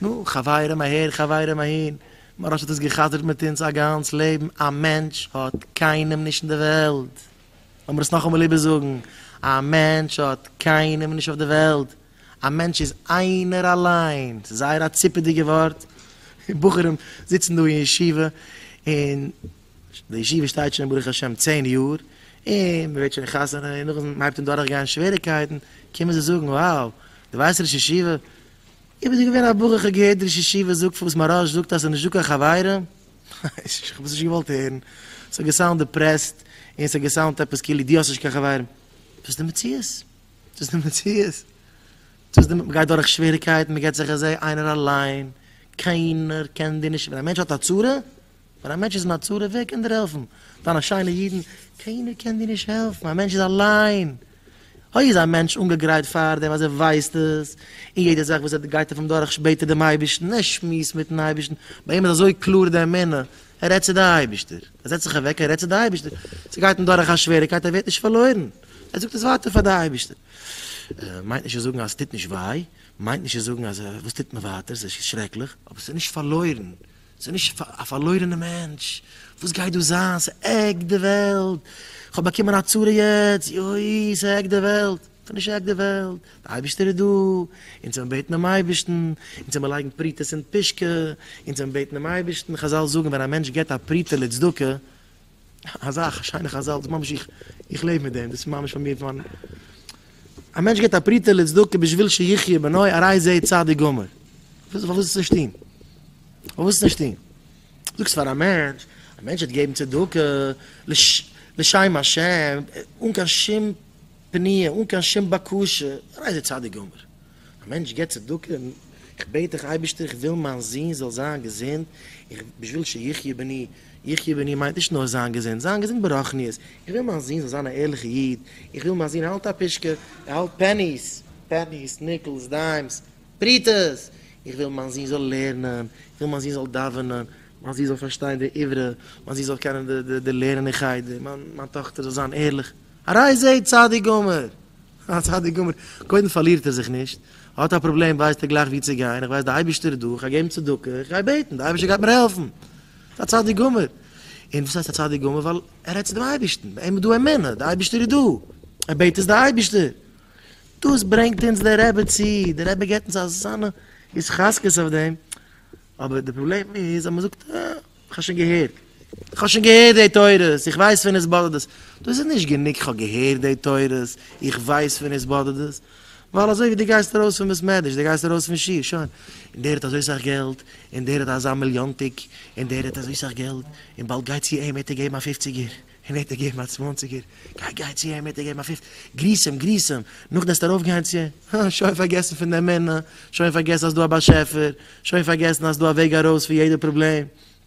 נו, חברים אהער חברים אהין, מוהראש האט עס גע'חזר'ט מיט אונז א גאנץ לעבן, א מענטש האט קיינעם נישט אין די וועלט, לאמיר עס נאכאמאל איבערזאגן, א מענטש האט קיינעם נישט אויף די וועלט, א מענטש איז איינער אליין, ס'איז זייער א ציפעדיגע ווארט, בחורים זיצן דא אין ישיבה, און די ישיבה שטייט שוין ברוך השם צען יאר, און מ'ווערט שוין חתונה, און נאכדעם מ'הייבט אן דורכגיין שוועריקייטן, קומען זיי זאגן, wow, דו ווייסט ראש ישיבה, איך בין דא געווען א בחור כ'האב געהערט די ראש ישיבה זאגט פון וואס מהרש זאגט אז ס'איז נישטא קיין חברה, איך האב עס נישט געוואלט הערן, ס'האט געסאונד דיפרעסט, און ס'האט געסאונד עפעס כאילו דו האסט נישט קיין חברים, דאס די מציאות, דאס די מציאות, דאס די, מ'גייט דורך שוועריקייטן, מ'געט זיך ע ז איינער אליין, קיינער קען דיר נישט, ווען א מענטש האט א צרה, ווען א מענטש איז אין א צרה, ווער קען דיר העלפן? דיינע שיינע אידן? קיינער קען דיר נישט העלפן, א מענטש איז אליין. אוי איז א מענטש אנגעגרייט פארדעם אז ער ווייסט עס, און יעדע זאך וואס ער גייט אויף אים דורך בעט ער דעם אייבערשטן, ער שמועסט מיטן אייבערשטן, ביי אים איז אזוי קלאר די אמונה, ער רעדט צו די אייבערשטער, ער זעצט זיך אוועק און רעדט צו די אייבערשטער, ס'גייט אים דורך א שוועריקייט ער ווערט נישט פארלוירן, ער זאגט עס ווייטער פאר די אייבערשטער. מיינט נישט צו זאגן אז ס'טוט נישט וויי, מיינט נישט צו זאגן אז וואס טוט מען ווייטער, ס'איז שרעקליך, אבער ס'איז נישט פארלוירן. ס'איז נישט א פארלוירענע מענטש, וואס גייט דא זיין? ס'העקט די וועלט, כ'האב באקומען א צרה יעצט, יוי, ס'העקט די וועלט. ס'האט נישט געהעקט די וועלט, דער אייבערשטער איז דא, אונז זעמיר בעטן דעם אייבערשטן, אונז זעמיר לייגן פרוטות אין פושקע, אונז זעמיר בעטן דעם אייבערשטן, חזל זאגן ווען א מענטש געבט א פרוטה לצדקה, אזא שיינע חזל, דאס ממש איך איך לעב מיט דעם, דאס איז ממש פאר מיר פון מיין, א מענטש געבט א פרוטה לצדקה בשביל שיחיה בנו הרי זה צדיק גמור, פארוואס עס נישט טוהן? פארוואס עס נישט טוהן? זאגסט פאר א מענטש, א מענטש וועט געבן צדקה לשם השם, אן קיין שום פניה, אן קיין שום בקשה, הרי זה צדיק גמור. א מענטש געבט צדקה, איך בעט דיך אייבערשטער איך וויל מיין זון זאל זיין געזונט, איך בשביל שיחיה בני, יחיה בני מיינט נישט נאר זיין געזונט, זיין געזונט ברחניות, איך וויל מיין זון זאל זיין א ערליכע איד, איך וויל מיין זון האלט א פישקע, ער האלט פעניס, פעניס, ניקלס, דיימס, פרוטות, איך וויל מיין זון זאל לערנען, איך וויל מיין זון זאל דאווענען, מיין זון זאל פארשטיין די עברה, מיין זון זאל קענען די לערען אין חדר, מיין טאכטער זאל זיין ערליך, הרי זה צדיק גמור, א צדיק גמור, קודם פארלירט ער זיך נישט, האט א פראבלעם ווייסט ער גלייך ווי צו גיין, איך ווייס די אייבישטער איז דא, איך גיי געבן צדקה, איך גיי בעטן, די אייבישטער גייט מיר העלפן, א צדיק גמור, און וואס הייסט א צדיק גמור ווייל ער רעדט צו דעם אייבישטן, ביי אים איז דא אמונה, די אייבישטער איז דא, ער בעט עס די אייבישטער, דאס ברענגט אונז דער רבי צו, דער רבי געבט אונז אזאנע התחזקות אויף דעם, אבער די פראבלעם איז אז מ'זאגט אה, איך האב שוין געהערט, איך האב שוין געהערט די תורות, איך ווייס פון עס באדערט עס. דאס איז נישט גענוג איך האב געהערט די תורות, איך ווייס פון עס באדערט עס. ווייל אזוי ווי דו גייסט ארויס פון בית מדרש, דו גייסט ארויס פון שיעור, שוין. און דער האט אזוי סאך געלט, און דער האט אזא מיליאנטיג, און דער האט אזוי סאך געלט, און באלד גייט צו אים וועט ער געבן א פופציגער. אים וועט ער געבן א צוואנציגער, גיי גיי צו אים וועט ער געבן א פיפט, גריס אים גריס אים, נאך דעסט ארויף גיין צו אים, הא שוין פארגעסן פון דעם מנין, שוין פארגעסן אז דא א באשעפער, שוין פארגעסן אז דא א וועג ארויס פון יעדע פראבלעם.